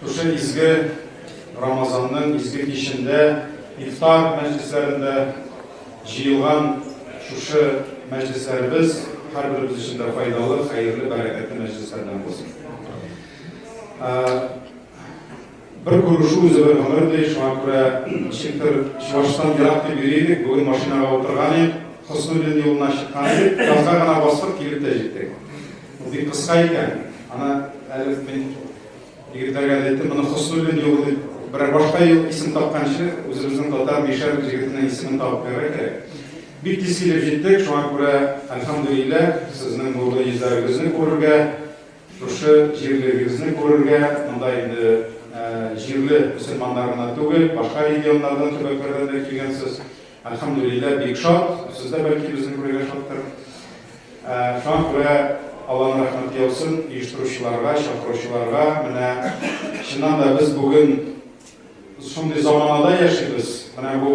Шушы изге Рамазанның изге кичендә ифтар мәҗлесләрендә җыелган шушы мәҗлесләребез һәрберебез өчен дә файдалы, хәерле, бәрәкәтле мәҗлесләрдән булсын. Бер күрешу үзе бер гомер ди, шуңа күрә ничектер Чувашстан ерак дип йөри идек, бүген машинага утырган идек, Хөснуллин юлына чыккан идек, газга гына бастык, килеп тә җиттек. Бик кыска икән, ана әле мин Егетләргә дә әйттем, моны Хоснуллин юлы дип, берәр башка юл исем тапканчы, үзебезнең татар мишәр җегетенең исемен табып бирергә кирәк. Бик тиз килеп җиттек, шуңа күрә, альхамдулилла, сезнең нурлы йөзләрегезне күрергә, шушы җирлегегезне күрергә, монда инде җирле мөселманнар гына түгел, башка регионнардан, төбәкләрдән дә килгәнсез. Әлхәмдүлилләһ, бик шат. Сез дә бәлки безне күрергә шаттыр. Шуңа күрә Алланың рәхмәте яусын оештыручыларга, чакыручыларга. Менә чыннан да без бүген шундый заманада яшибез. Менә бу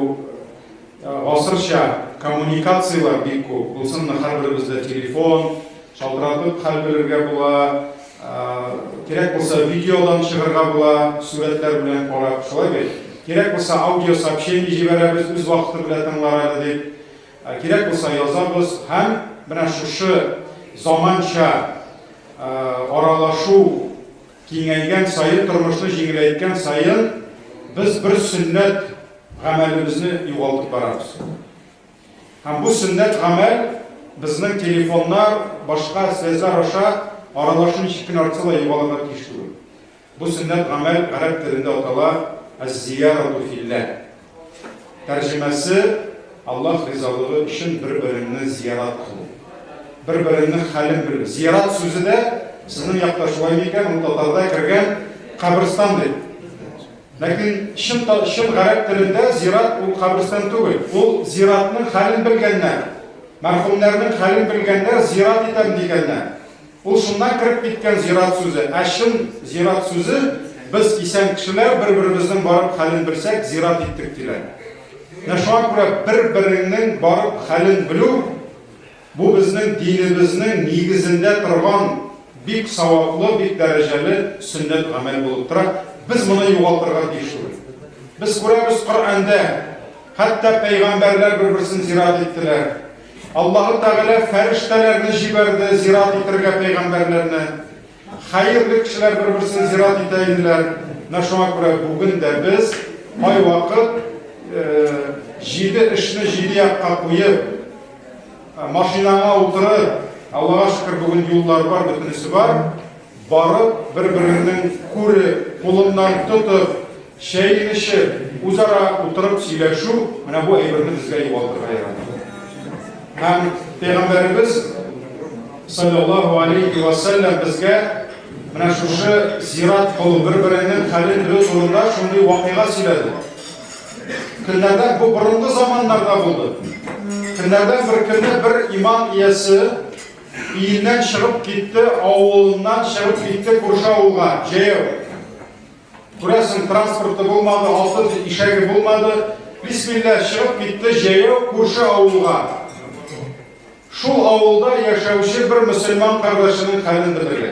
гасырча коммуникацияләр бик күп. Булсынмы һәрберебездә телефон, Шалтыратып хәл белергә була, кирәк булса видеодан чыгарга була, сурәтләр белән карап, шулай бит? Кирәк булса аудио сообщение җибәрәбез, үз вакыты белән тыңлар әле дип. Кирәк булса язабыз һәм менә шушы заманча аралашу киңәйгән саен, тормышны җиңеләйткән саен без бер сөннәт гамәлебезне югалтып барабыз. Һәм бу сөннәт гамәл безнең телефоннар, башка связьлар аша аралашу ничек кенә артса да югалырга тиеш түгел. Бу сөннәт гамәл гарәп телендә атала әз-зиярату филлә. Тәрҗемәсе, Аллаһ ризалыгы өчен бер-береңне зиярат кылу. Бер-береңнең хәлен белү. Зиярат сүзе дә сезнең якта шулаймы икән, ул татарда кергән каберстан дип. Ләкин чын та, чын гарәп телендә зират ул каберстан түгел. Ул зиратның хәлен белгәннәр. Мәрхүмнәрнең хәлен белгәннәр зират итәм дигәннәр. Ул шуннан кереп киткән зират сүзе. Ә чын зират сүзе без исән кешеләр бер-беребезнең барып хәлен белсәк, зират иттек диләр. Менә шуңа күрә бер-береңнең барып хәлен белү Бу безнең динебезнең нигезендә торган бик саваплы, бик дәрәҗәле сөннәт гамәл булып тора. Без моны югалтырга тиеш түгел. Без күрәбез Коръәндә, хәтта пәйгамбәрләр бер-берсен зират иттеләр. Аллаһы Тәгалә фәрештәләрне җибәрде зират итәргә пәйгамбәрләрне. Хәерле кешеләр бер-берсен зират итә иделәр. Менә шуңа күрә бүген дә без кайвакыт җиде эшне җиде якка куеп, машинаңа утырып, Аллага шөкер, бүген юллар бар, бөтенесе бар, барып, бер-береңнең күреп, кулыннан тотып, Чәй эчеп, үзара утырып сөйләшү менә бу әйберне безгә югалтырга ярамый. Һәм пәйгамбәребез саллаллаху алейхи ва саллям безгә менә шушы зират кылу, бер-береңнең хәлен белү турында шундый вакыйга сөйләде. Көннәрдән бу борынгы заманнарда булды. Көннәрдән бер көнне бер иман иясе өеннән чыгып китте, авылыннан чыгып китте күрше авылга, җәяү. Күрәсең, транспорты булмады, алты ишәге булмады. Бисмилла чыгып китте җәяү күрше авылга. Шул авылда яшәүче бер мөселман кардәшенең хәлен белергә.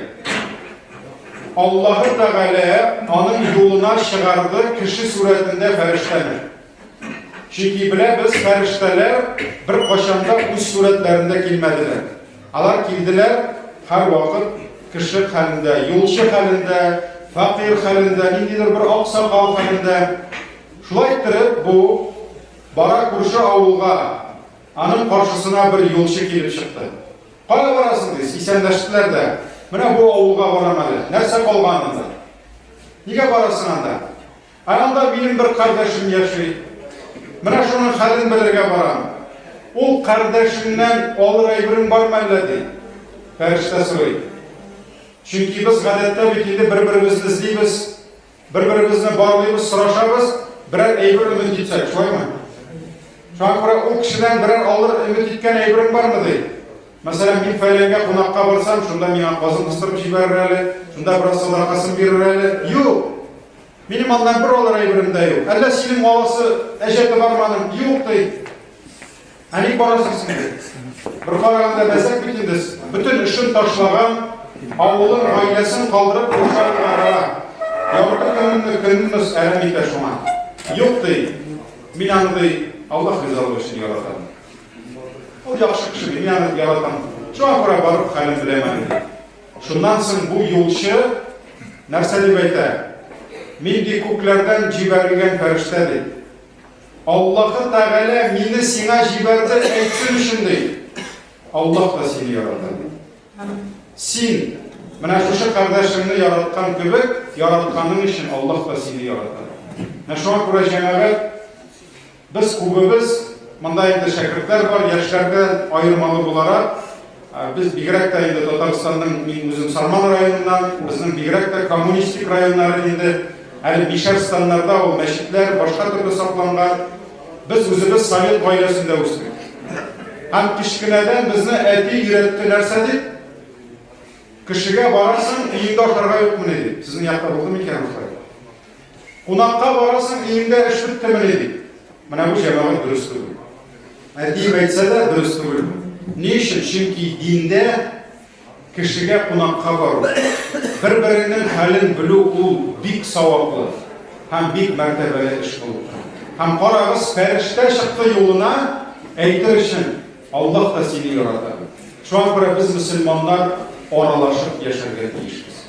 Аллаһы Тәгалә аның юлына чыгарды кеше сурәтендә фәрештәне. Чөнки беләбез, фәрештәләр бер качанда үз сурәтләрендә килмәделәр. Алар килделәр, һәрвакыт кеше хәлендә, юлчы хәлендә, фәкыйрь хәлендә, ниндидер бер аксакал хәлендә. Шулай иттереп, бу бара күрше авылга, аның каршысына бер юлчы килеп чыкты. Кая барасың ди, исәнләштеләр дә. Менә бу авылга барам әле. Нәрсә калган анда? Нигә барасың анда? Ә анда минем бер кардәшем яши. Менә шуның хәлен белергә барам. Ул кардәшеңнән алыр әйберең бармы әллә? ди. Фәрештә сорый. Чөнки без гадәттә бит инде бер-беребезне эзлибез, бер-беребезне барлыйбыз, сорашабыз, берәр әйбер өмет итсәк, шулаймы? Шуңа күрә ул кешедән берәр алыр өмет иткән әйберең бармы? ди. Мәсәлән, мин фәләнгә кунакка барсам, шунда миңа казын кыстырып җибәрер әле, шунда бераз садакасын бирер әле. Юк! Минем аннан бер алыр әйберем дә юк. Әллә синең маласы әҗәте барманың? Юк, ди. Ә ник барасың син? Бер караганда мәзәк бит инде. Бөтен эшен ташлаган, авылын, гаиләсен калдырып куркарга бара. Ярты көнне көнмес әрәм итә шуңа. Юк, ди. Мин аны, ди, Аллаһ ризалыгы өчен яратам. Ул яхшы кеше, мин аны яратам. Шуңа күрә барып хәлен беләмен. Шуннан соң бу юлчы нәрсә дип әйтә? Мин ди күкләрдән җибәрелгән фәрештә, ди. Аллаһы Тәгалә мине сиңа җибәрде әйтсен өчен, ди. Аллаһ та сине ярата. Син менә шушы кардәшеңне яраткан кебек, яратканың өчен Аллаһ та сине ярата. Менә шуңа күрә җәмәгать Без күбебез, монда инде шәкертләр бар, яшьләрдән аермалы буларак, без бигрәк тә инде Татарстанның, мин үзем Сарман районыннан, безнең бигрәк тә коммунистик районнары инде, әле бишәр станнарда ул мәчетләр башка төрле сакланган. Без үзебез совет гаиләсендә үстек. Һәм кечкенәдән безне әти өйрәтте нәрсә дип? Кешегә барасың, өеңдә ашарга юкмыни дип. Сезнең якта булдымы икән ошылай? Кунакка барасың, өеңдә эш беттемени? дип. Менә бу җәмәгать дөрес түгел. Ә диеп әйтсә дә дөрес түгел. Ни өчен? Чөнки диндә кешегә кунакка бару, бер-береңнең хәлен белү ул бик саваплы һәм бик мәртәбәле эш булып тора. Һәм карагыз, фәрештә чыкты юлына әйтер өчен, Аллаһ та сине ярата. Шуңа күрә без мөселманнар аралашып яшәргә тиешбез.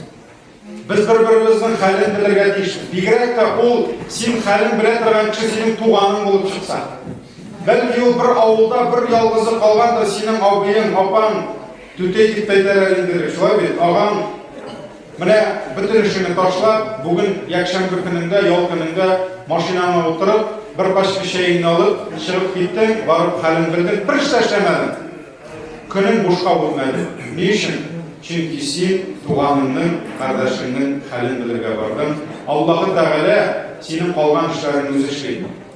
Без бер-беребезнең хәлен белергә тиеш. Бигрәк тә ул син хәлен белә торган кеше синең туганың булып чыкса. Бәлки ул бер авылда бер ялгызы калгандыр, синең абыең, апаң, түтәй дип әйтәләр инде, шулай бит, агаң. Менә бөтен эшеңне ташлап, бүген якшәмбе көнендә, ял көнендә машинаңа утырып, бер пачка чәеңне алып, чыгып киттең, барып хәлен белдең, бер эш тә эшләмәдең. Көнең бушка үтмәде. Ни өчен? Чөнки син туганыңның, кардәшеңнең хәлен белергә бардың. Аллаһы Тәгалә синең калган эшләреңне үзе эшли.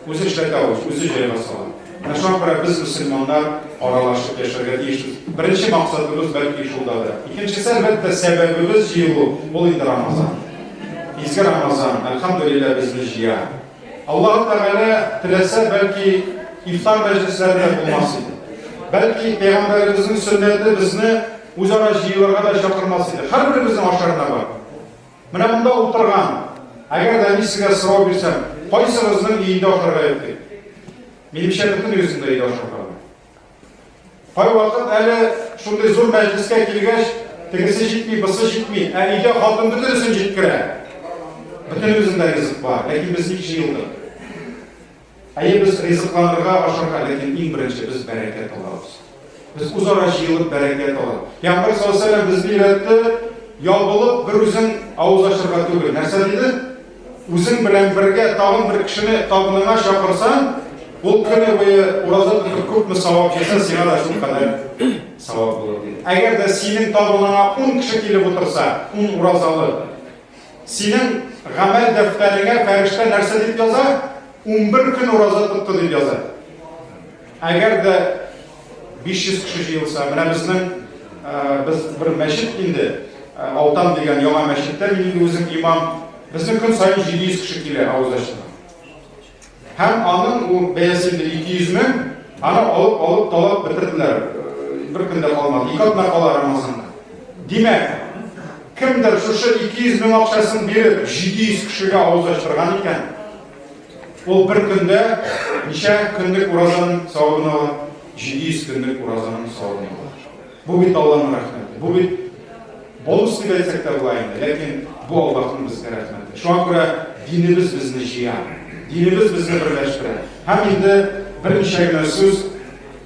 Үзе эшләтә ул, үзе җайга сала. Менә шуңа күрә без, мөселманнар, аралашып яшәргә тиешбез. Беренче максатыбыз, бәлки, шул да да. Икенчесе, әлбәттә, сәбәбебез җыелу, ул инде Рамазан. Изге Рамазан, әлхәмдүлилләһ, безне җыя. Аллаһу Тәгалә теләсә, бәлки, ифтар мәҗлесләре дә булмас иде. Бәлки, Пәйгамбәребезнең сөннәте безне үзара җыелырга да чакырмас иде. Һәрберебезнең ашарына бар. Менә монда утырган, әгәр дә мин сезгә сорау бирсәм, кайсыгызның өендә ашарга ятыйк? Минемчә, бөтенегезнең дә өйдә ашарга. Кайвакыт әле шундый зур мәҗлескә килгәч, тегесе җитми, бысы җитми, ә өйдә хатын бөтенесен җиткерә. Бөтенебездә ризык бар, ләкин без ник җыелдык? Әйе, без ризыкланырга, ашарга, ләкин иң беренче без бәрәкәт алабыз. Без үзара җыелып бәрәкәт алабыз. Пәйгамбәр саллаллаһу алейһи ва сәлләм безне өйрәтте, ябылып бер үзең авыз ачарга түгел. Нәрсә диде? Үзең белән бергә тагын бер кешене табыныңа чакырсаң, ул көне буе ураза тотып күпме савап җыйсын, сиңа да шул кадәр савап булыр диде. Әгәр дә синең табыныңа ун кеше килеп утырса, ун уразалы, синең гамәл дәфтәреңә фәрештә нәрсә дип яза? Унбер көн ураза тотты дип яза. Әгәр дә 500 кеше җыелса, менә безнең без бер мәчет инде, Алтан дигән яңа мәчеттә мин инде үзем имам, безнең көн саен 700 кеше килә авыз ачына. Һәм аның ул бәясе 200 мең, аны алып алып талап бетерделәр. Бер көндә калмады, ике атна кала Рамазанда. Димәк, кемдер шушы 200 мең акчасын биреп, 700 кешегә авыз ачтырган икән, Ул бер көндә ничә көнлек уразаның савабын ала? 700 көнлек уразаның савабын ала. Бу бит Аллаһның рәхмәте. Бу бит бонус дип әйтсәк тә була инде, ләкин бу Аллаһның безгә рәхмәте. Шуңа күрә динебез безне җыя, динебез безне берләштерә. Һәм инде берничә генә сүз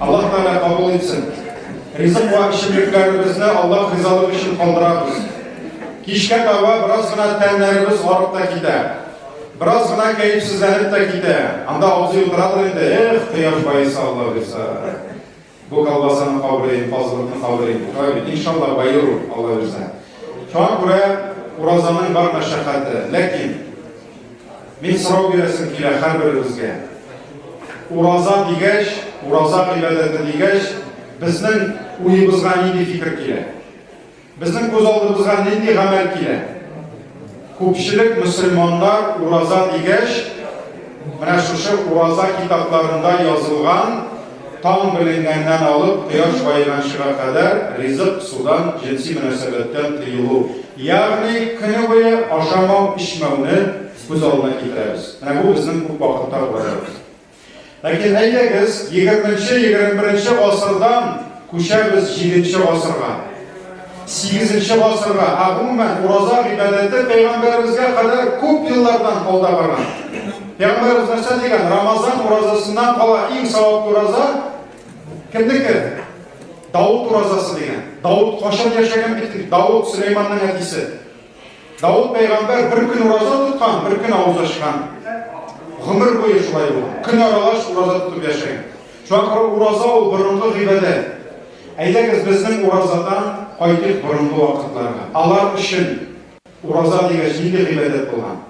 Аллаһ Тәгалә кабул итсен. Ризык ва эчемлекләребезне Аллаһ ризалыгы өчен калдырабыз. Кичкә таба бераз гына тәннәребез арып та китә. Бераз гына кәефсезләнеп тә китә. Анда абзый утырадыр инде, эх, кояш баеса Алла бирса. Бу колбасаны кабырыйм, фазлыкны кабырыйм. Кабит, иншалла, байыру Алла бирса. Шуңа күрә уразаның бар мәшәкате. Ләкин Мин сорау бирәсем килә хәрберебезгә. Ураза дигәч, ураза гыйбадәте дигәч, безнең уебызга нинди фикер килә? Безнең күз алдыбызга нинди гамәл килә? Күпчелек мөселманнар ураза дигәч, менә шушы ураза китапларында язылган Таң беленгәннән алып кояш баеганчыга кадәр ризык, судан, җенси мөнәсәбәттән тыелу, ягъни көне буе ашамау-эчмәүне күз алдына китерәбез. Менә бу безнең күп вакытта уйларыбыз. Ләкин әйдәгез, егерменче-егерме беренче гасырдан күчәбез җиденче гасырга. Сигезенче гасырга, ә гомумән, ураза гыйбадәте пәйгамбәребезгә кадәр күп еллардан алда барган. Пәйгамбәребез нәрсә дигән? Рамазан уразасыннан кала иң саваплы ураза кемнеке? Давыт уразасы дигән. Давыт кашын яшәгән бит. Давыт Сөләйманның әтисе. Давыт пәйгамбәр бер көн ураза тоткан, бер көн авыз ачкан. Гомер буе шулай ул. Көн аралаш ураза тотып яшәгән. Шуңа ураза ул борынгы гыйбадәт. Әйдәгез безнең уразадан кайтыйк борынгы вакытларга. Алар өчен ураза дигәч нинди гыйбадәт булган?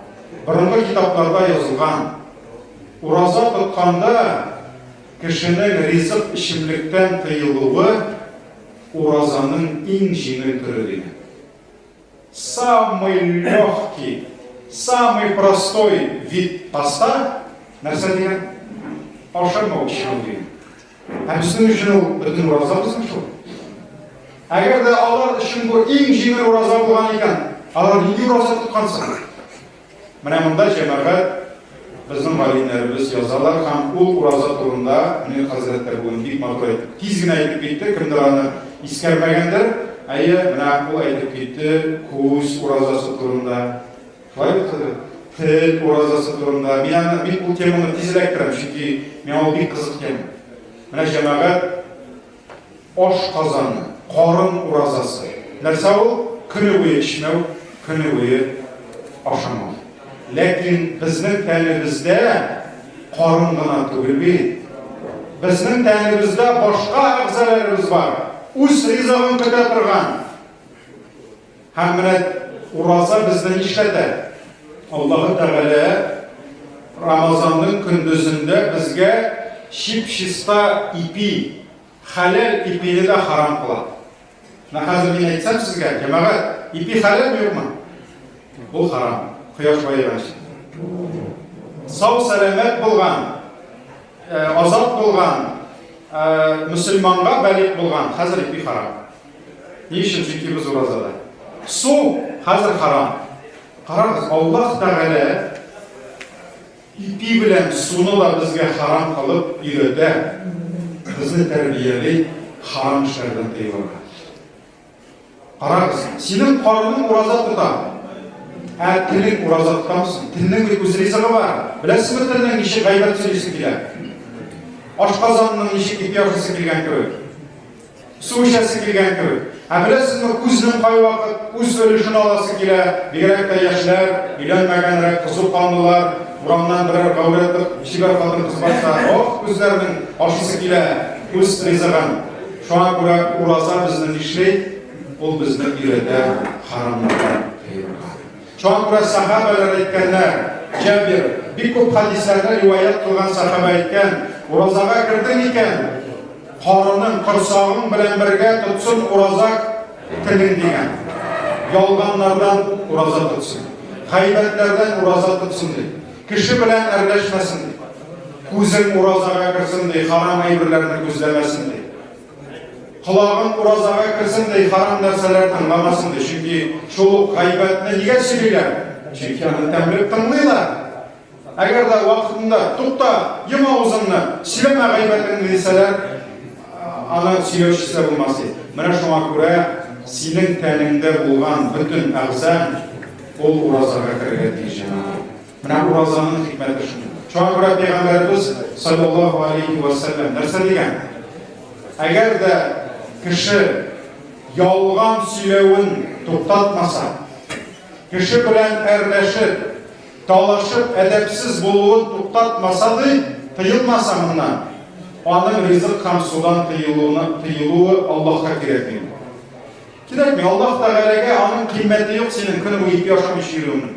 Борынгы китапларда язылган. Ураза тотканда кешенең ризык эчемлектән тыелуы уразаның иң җиңел төре дигән. Самый легкий, самый простой вид поста, нәрсә дигән? Ашамау чыгу дигән. Һәм сезнең өчен ул бөтен ураза булсын шул. Әгәр дә алар өчен бу иң җиңел ураза булган икән, алар нинди ураза тоткансың? Менә монда җәмәгать безнең галимнәребез язалар һәм ул ураза турында Мөнир хәзрәт тә бүген бик матур әйтте. Тиз генә әйтеп китте, кемдер аны искәрмәгәндер. Әйе, менә ул әйтеп китте күз уразасы турында. Шулай бит, тел уразасы турында. Мин аны бик бу теманы тизрәк керәм, чөнки миңа ул бик кызык тема. Менә җәмәгать Ашказаны, карын уразасы. Нәрсә ул? Көне буе эчмәү, көне буе ашамау. Ләкин безнең тәнебездә карын гына түгел бит. Безнең тәнебездә башка әгъзаларыбыз бар. Үз ризыгын көтә торган. Һәм менә ураза безне нишләтә? Аллаһы Тәгалә Рамазанның көндезендә безгә чип-чиста ипи, хәләл ипине дә харам кыла. Менә хәзер мин әйтсәм сезгә, җәмәгать, ипи хәләл юкмы? Ул харам. Кояш баеганчы. Сау сәламәт булган, азат булган, мөселманга бәлик булган, хәзер ипи харам. Ни өчен тотибыз уразада? Су хәзер харам. Карагыз, Аллаһ Тәгалә ипи белән суны да безгә харам кылып өйрәтә. Безне тәрбияли харам эшләрдән тыелырга. Карагыз, синең карының ураза тота. Ә телең ураза тотамсың. Телнең бит үз ризыгы бар. Беләсезме телнең ничек гайбәт сөйлисе килә? Ашказанның ничек ипи ашасы килгән кебек. Су эчәсе килгән кебек. Ә беләсезме, күзнең кайвакыт үз өлешен аласы килә, бигрәк тә яшьләр, өйләнмәгәнрәк, кызу канлылар, урамнан берәр гәүрәтеп, чибәр хатын кыз барса, ох, күзләрнең ашысы килә, үз ризыгын. Шуңа күрә ураза безне нишли? Ул безне өйрәтә харамнардан тыелырга. Чакта сәхабәләр әйткәннәр, Җабир, бик күп хәдисләрне риваять кылган сәхабә әйткән, Уразага кердең икән, карының, корсагың белән бергә тотсын ураза телең дигән. Ялганнардан ураза тотсын. Гайбәтләрдән ураза тотсын ди. Кеше белән әрләшмәсен ди. Күзең уразага керсен ди, харам әйберләрне күзләмәсен ди. Колагың уразага керсен дә харам нәрсәләр тыңламасын ди. Чөнки шул ук гайбәтне нигә сөйлиләр? Чөнки аны тәмлек тыңлыйлар. Әгәр дә вакытында тукта, йом авызыңны, сөйләмә гайбәтеңне дисәләр, аны сөйләүчесе дә булмас ди. Менә шуңа күрә синең тәнеңдә булган бөтен әгъзаң ул уразага керергә тиеш. Менә уразаның хикмәте шуның. Шуңа күрә пәйгамбәребез саллаллаһу алейхи ва саллям нәрсә дигән? Әгәр дә кеше ялган сөйләвен туктатмаса, кеше белән әрләшеп, талашып, әдәпсез булуын туктатмаса ди, тыелмаса моннан, аның ризык һәм судан тыелуына тыелуы Аллаһка кирәкми. Кирәкми, Аллаһ Тәгаләгә аның кыйммәте юк синең көне буе ипи ашамыйча йөрүеңнең.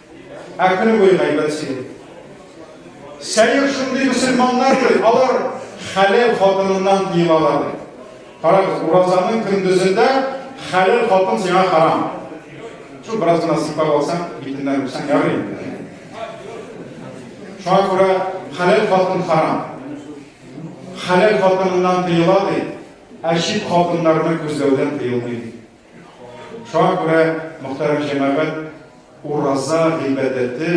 Ә көне буе гайбәт сөйли. Сәер шундый мөселманнар ки, алар хәләл хатыныннан тыелалар. Карагыз, уразаның көндезендә хәләл хатын сиңа харам. Шул бераз гына сыйпап алсаң, битеннән үпсәң ярый инде. Шуңа күрә хәләл хатын харам. Хәләл хатыныннан тыела ди, ә чит хатыннарны күзләүдән тыелмый. Шуңа күрә, мөхтәрәм җәмәгать, ураза гыйбадәте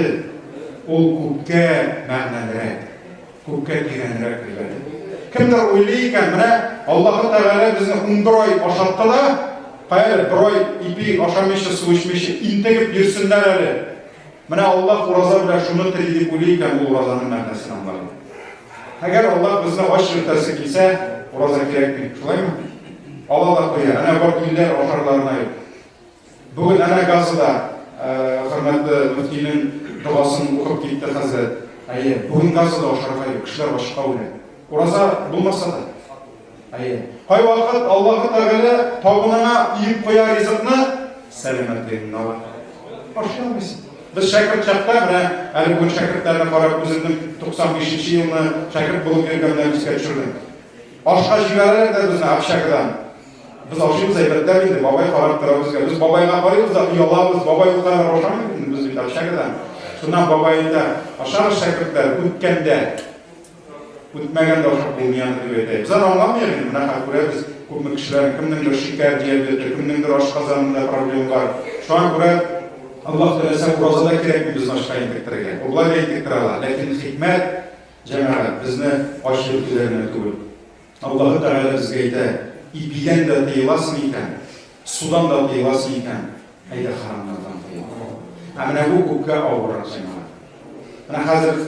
ул күпкә мәгънәлерәк, күпкә тирәнрәк гыйбадәт. Кемдер уйлый икән, менә Аллаһы Тәгалә безне унбер ай ашатты да, хәер, бер ай ипи ашамыйча, су эчмичә интегеп йөрсеннәр әле. Менә Аллаһ ураза белән шуны тели дип уйлый икән, ул уразаның мәгънәсен аңлар. Әгәр Аллаһ безне ач йөртәсе килсә, ураза кирәкми, шулаймы? Ала да куя, әнә бар килләр ашарларына юк. Бүген әнә Газада э, хөрмәтле мөфтинең догасын укып китте хәзрәт. Әйе, бүген Газада ашарга юк, кешеләр ачка үлә. Ураза булмаса да, Кайвакыт Аллаһы Тәгалә табынына иеп куя ризыкны, сәламәтлегеңне ала. Ашамыйсың. Без шәкерт чакта менә әле бүген шәкертләрне карап үземнең 95 нче елны шәкерт булып йөргәннән искә төшердем. Ашка җибәрәләр дә безне общагадан. Без ашыйбыз әйбәтләп инде, бабай карап тора безгә. Без бабайга карыйбыз да оялабыз, бабай ул кадәр ашамый инде без бит общагадан. Шуннан бабай әйтә, ашагыз шәкертләр, үткәндә Үтмәгән дәвахат булмыйан дип әйтә. Без аны аңламыйк, менә хәзер күрәбез, күпме кешеләр, кемнеңдер шикәр диабеты, кемнеңдер ашказанында проблем бар. Шуңа күрә Аллаһ теләсә уразада кирәкми без башка интектерергә. Ул болай да интектерә ала, ләкин хикмәт, җәмәгать, безне ач йөртүләренә түгел. Аллаһы Тәгалә безгә әйтә, Ипидән дә тыеласың икән, судан да тыеласың икән, әйдә харамнардан тыел. Ә менә бу күпкә авыррак җәмәгать. Менә хәзер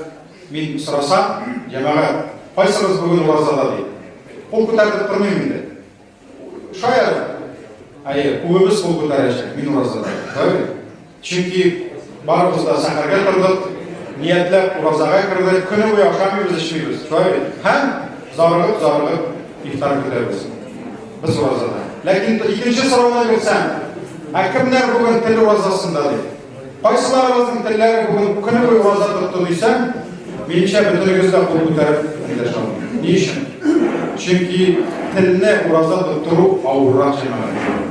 мин сорасам, җәмәгать, кайсыгыз бүген уразада дип. Кул күтәртеп тормыйм инде. Шаяр. Әйе, күбебез кул күтәрәчәк, мин уразада. Правильно? Чөнки барыбыз да сәхәргә тордык, ниятләп уразага кердек, көне буе ашамыйбыз, эчмибез, шулай бит? Һәм зарыгып, зарыгып ифтар көтәбез. Без уразада. Ләкин икенче сорауны бирсәм, ә кемнәр бүген тел уразасында ди? Кайсыларыбызның телләре бүген көне буе ураза тотты дисәм, минемчә бөтенегез дә кул күтәреп килеш алмый. Ни өчен? Чөнки телне ураза тоттыру авыррак җәмәгать.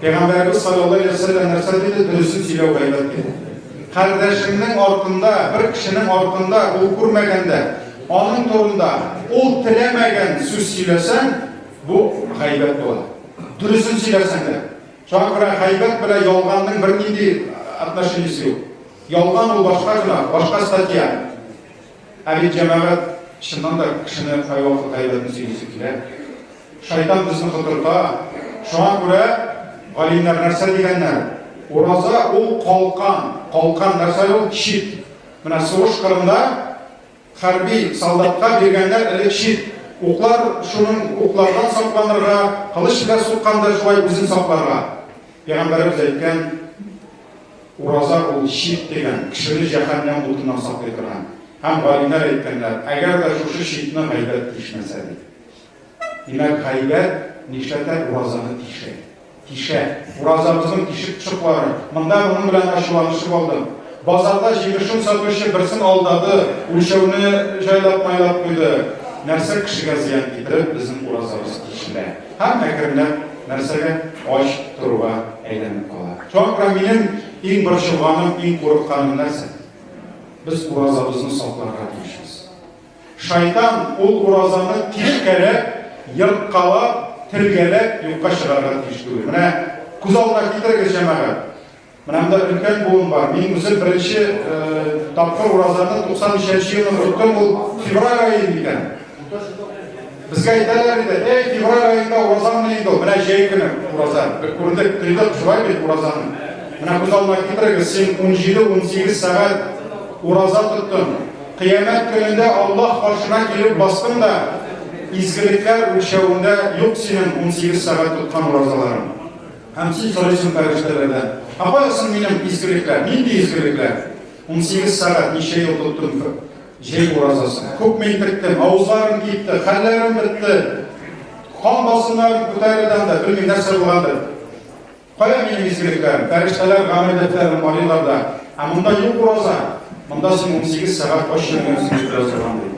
Пәйгамбәребез саллаллаһу алейһи вә сәлләм нәрсә диде? Дөресен сөйләү гайбәт диде. Кардәшеңнең артында, бер кешенең артында ул күрмәгәндә, аның турында ул теләмәгән сүз сөйләсәң, бу гайбәт була. Дөресен сөйләсәң дә. Шуңа күрә гайбәт белән ялганның бернинди отношениесе юк. Ялган ул башка гына, башка статья. Ә бит җәмәгать чыннан да кешене кайвакыт гайбәтен сөйлисе килә. Шайтан безне котырта. Шуңа күрә галимнәр нәрсә дигәннәр? Ураза ул калкан. Калкан нәрсә ул? Чит. Менә сугыш кырында хәрби солдатка биргәннәр элек чит. Уклар шуның уклардан сакланырга, кылыч белән сукканда шулай үзен сакларга. Пәйгамбәребез әйткән, ураза ул чит дигән, кешене җәһәннәм утыннан саклый торган. Һәм галимнәр әйткәннәр, әгәр дә шушы читне гайбәт тишмәсә дип. Димәк, гайбәт нишләтә? Уразаны тишә. Тишә. Уразабызның тишек пычыклары. Монда моның белән ачуланышып алдым. Базарда җимешен сатучы берсен алдады, үлчәүне җайлап майлап куйды. Нәрсә кешегә зыян китереп, безнең уразабыз тишелә. Һәм әкренләп нәрсәгә? Ач торуга әйләнеп кала. Шуңа күрә минем иң борчылганым, иң курыкканым нәрсә? Без уразабызны сакларга тиешбез. Шайтан ул уразаны тишкәләп, ерткалап, телгәләп юкка чыгарырга тиеш түгел. Менә күз алдына китерегез, җәмәгать. Менә монда өлкән буын бар. Мин үзем беренче э, тапкыр уразаны 93 елның тоттым, ул февраль ае икән. Безгә әйтәләр иде, эй, февраль аенда уразамыни инде ул, менә җәй көне ураза. Без күрдек, тойдык шулай бит уразаны. Менә күз алдына китерегез, син 17-18 сәгать ураза тоттың. Кыямәт көнендә Аллаһ каршына килеп бастың да, изгелекләр үлчәвендә юк синең 18 сәгать тоткан уразаларың. Һәм син сорыйсың фәрештәләрдән, ә кая соң минем изгелекләр? Нинди изгелекләр? 18 сәгать ничә ел тоттың? Җәй уразасы. Күпме интектем, авызларым кипте, хәлләрем бетте. Кан басымнарым күтәрелгән дә, белмим нәрсә булгандыр. Кая минем изгелекләрем? Фәрештәләр гамәл дәфтәрен карыйлар да. Ә монда юк ураза. Монда син 18 сәгать ач йөргән син бераз торган ди.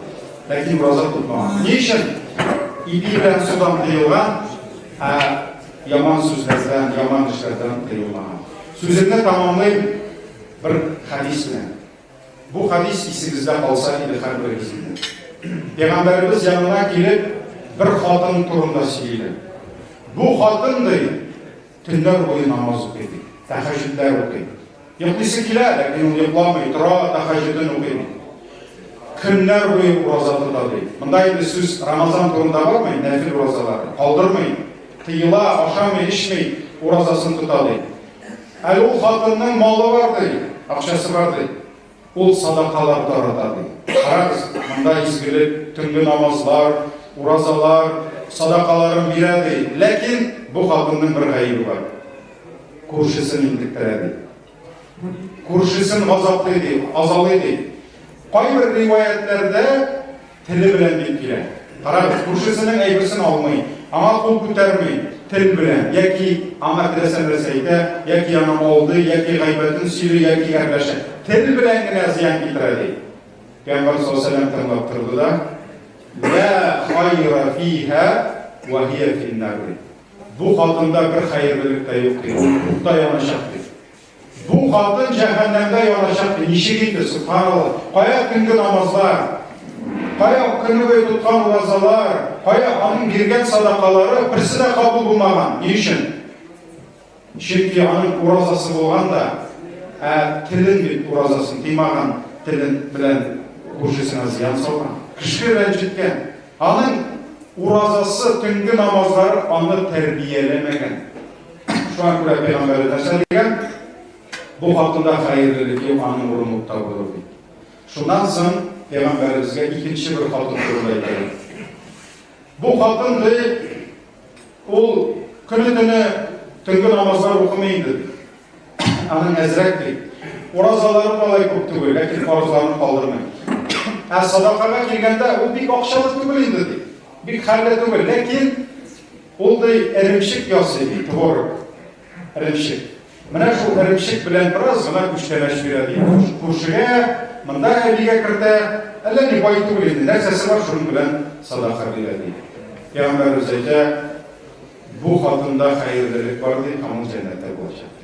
Ләкин ураза тотмаган. Ни өчен? Ипи белән судан тыелган, ә яман сүзләрдән, яман эшләрдән тыелмаган. Сүземне тамамлыйм бер хәдис белән. Бу хадис исегездә калса иде һәрберегезнең. Пәйгамбәребез янына килеп, бер хатын турында сөйлиләр. Бу хатын ди, төннәр буе намаз укый ди, тәһәҗҗүдләр укый. Йоклыйсы килә, ләкин ул йокламый, тора, тәһәҗҗүден укый. Көннәр буе ураза тота ди. Монда инде сүз Рамазан турында бармый, нәфил уразалар, калдырмый, тыела, ашамый, эчми, уразасын тота ди. Әле ул хатынның малы бар ди, акчасы бар ди. Ул садакалар тарата ди. Карагыз, монда изгелек, төнге намазлар, уразалар, садакаларын бирә ди. Ләкин бу хатынның бер гаебе бар. Күршесен интектерә ди. Күршесен газаплый ди, азалый ди. Кайбер риваятләрдә Теле белән бик килә. Карагыз, күршесенең әйберсен алмый, аңа кул күтәрми, тел белән, яки аңа теләсә нәрсә әйтә, яки аны алдый, яки гайбәтен сөйли, яки әрләшә. Тел белән генә зыян китерә ди. Пәйгамбәр саллаллаху алейһи тыңлап торды да, "Ла хайра фиһа ва хия финнар." Бу хатында бер хәерлелек тә юк ди. Ул утта яначак ди. Бу хатын җәһәннәмдә яначак ди, ничек инде, субханалла. Кая төнге намазлар, кая көне буе тоткан уразалар, кая аның биргән садакалары берсе дә кабул булмаган. Ни өчен? Чөнки аның уразасы булган да, ә телен бит уразасын тыймаган телен белән күршесенә зыян салган. Кеше рәнҗеткән. Аның уразасы, төнге намазлары аны тәрбияләмәгән. Шуңа күрә пәйгамбәребез нәрсә дигән? Бу хакында хәерлелеке аның урынлыкта булыр ди. Шуннан соң пәйгамбәребезгә икенче бер хатын турында әйтәләр. Бу хатын ди, ул көне-төне төнге намазлар укымый иде. Аның әзрәк ди. Уразалары болай күп түгел, ләкин фарызларын калдырмый. Ә садакага килгәндә ул бик акчалы түгел инде ди. Бик хәлле түгел, ләкин Ул ди, эремчек ясый ди, творог, эремчек. Менә шул эремчек белән бераз гына күчтәнәч бирә ди. Күршегә, монда әбигә кертә, әллә ни бай түгел инде, нәрсәсе бар, шуның белән садака бирә ди. Пәйгамбәребез әйтә, бу хатында хәерлелек бар ди, һәм ул җәннәттә булачак.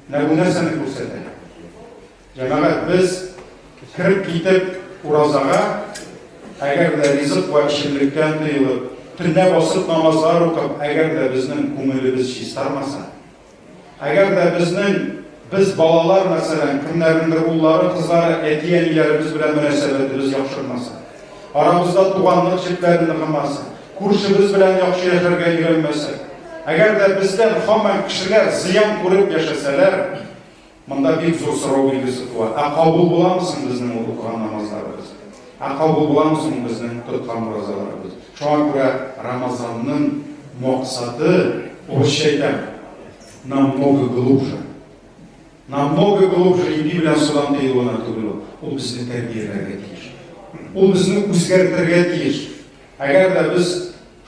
Менә бу нәрсәне күрсәтә. Җәмәгать, без кереп китеп уразага, әгәр дә ризык вә эчемлектән тыелып, төнлә басып намазлар укып, әгәр дә безнең күңелебез чистармаса, әгәр дә безнең без балалар, мәсәлән, кемнәрнеңдер уллары, кызлары, әти-әниләребез белән мөнәсәбәтебез яхшырмаса, арабызда туганлык җепләре ныгымаса, күршебез белән яхшы яшәргә өйрәнмәсәк, әгәр дә бездән һаман кешеләр зыян күреп яшәсәләр, Монда бик зур сорау билгесе туа. Ә кабул буламы соң безнең ул укыган намазларыбыз? Ә кабул буламы соң безнең тоткан уразаларыбыз? Шуңа күрә Рамазанның максаты, урысча әйтәм, намного глубже. Намного глубже ипи белән судан тыюына түгел ул. Ул безне тәрбияләргә тиеш. Ул безне үзгәртергә тиеш. Әгәр дә без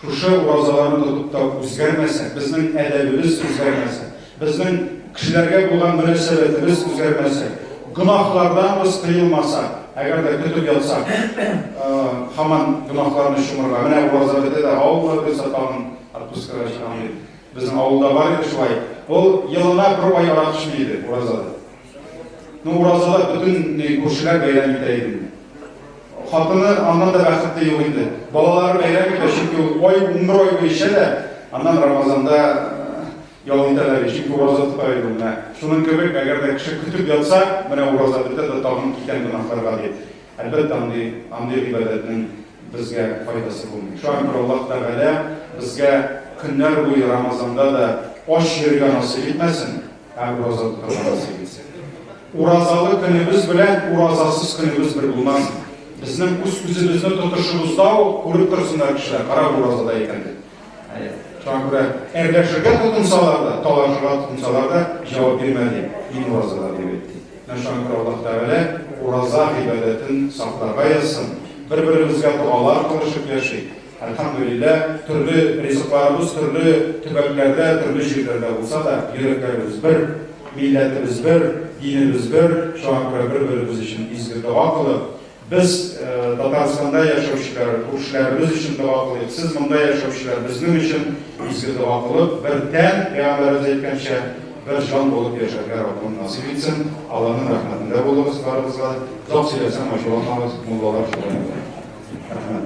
Шушы уразаларны тотып та үзгәрмәсәк, безнең әдәбебез үзгәрмәсә, безнең кешеләргә булган мөнәсәбәтебез үзгәрмәсә, гөнаһлардан без тыелмасак, әгәр дә көтеп ятсак, һаман гөнаһларны чумырга. Менә ураза бетә дә, авыллар булса тагын отпускага чыгам дип. Безнең авылда бар иде шулай. Ул елына бер ай арак эчми иде уразада. Ну, уразалар бөтен э, күршеләр бәйрәм итә иде. Хатыны аннан да бәхетле юк инде. Балалары бәйрәм итә, чөнки ул ай, 11 ай буе эчә дә, аннан Рамазанда э, ял итәләр, чөнки ураза тота иде ул. Шуның кебек, әгәр дә кеше көтеп ятса, менә ураза бетә дә тагын китән гөнаһларга дип. Әлбәттә, андый андый гыйбадәтнең безгә файдасы булмый. Шуңа күрә Аллаһ Тәгалә безгә көннәр буе Рамазанда да ач йөрергә насыйп итмәсен. Һәм розаны тотабыз сигез. Уразалы көнебез белән уразасыз көнебез бер булмас. Безнең үз үзебезне тотышыбызда ук күреп торсыннар кешеләр, кара уразада икән дип. Шуңа күрә әрләшергә тотынсалар да, талашырга тотынсалар да, җавап бирмә ди. Мин уразада дип әйтте. Менә шуңа күрә Аллаһ Тәгалә ураза гыйбадәтен сакларга язсын. Бер-беребезгә догалар кылышып яшик. Әлхәмдүлилләһ, төрле ризыкларыбыз төрле төбәкләрдә, төрле җирләрдә булса да, йөрәкләребез бер, милләтебез бер, динебез бер, шуңа күрә бер-беребез өчен изге дога кылып, без Татарстанда яшәүчеләр, күршеләребез өчен дога кылыйк, сез монда яшәүчеләр безнең өчен изге дога кылып, бер тән, пәйгамбәребез әйткәнчә, Бер җан булып яшәргә Раббым насыйп итсен, Алланың рәхмәтендә булыгыз барыбызга, озак сөйләсәм ачуланмагыз, муллалар шулай итә. Рәхмәт.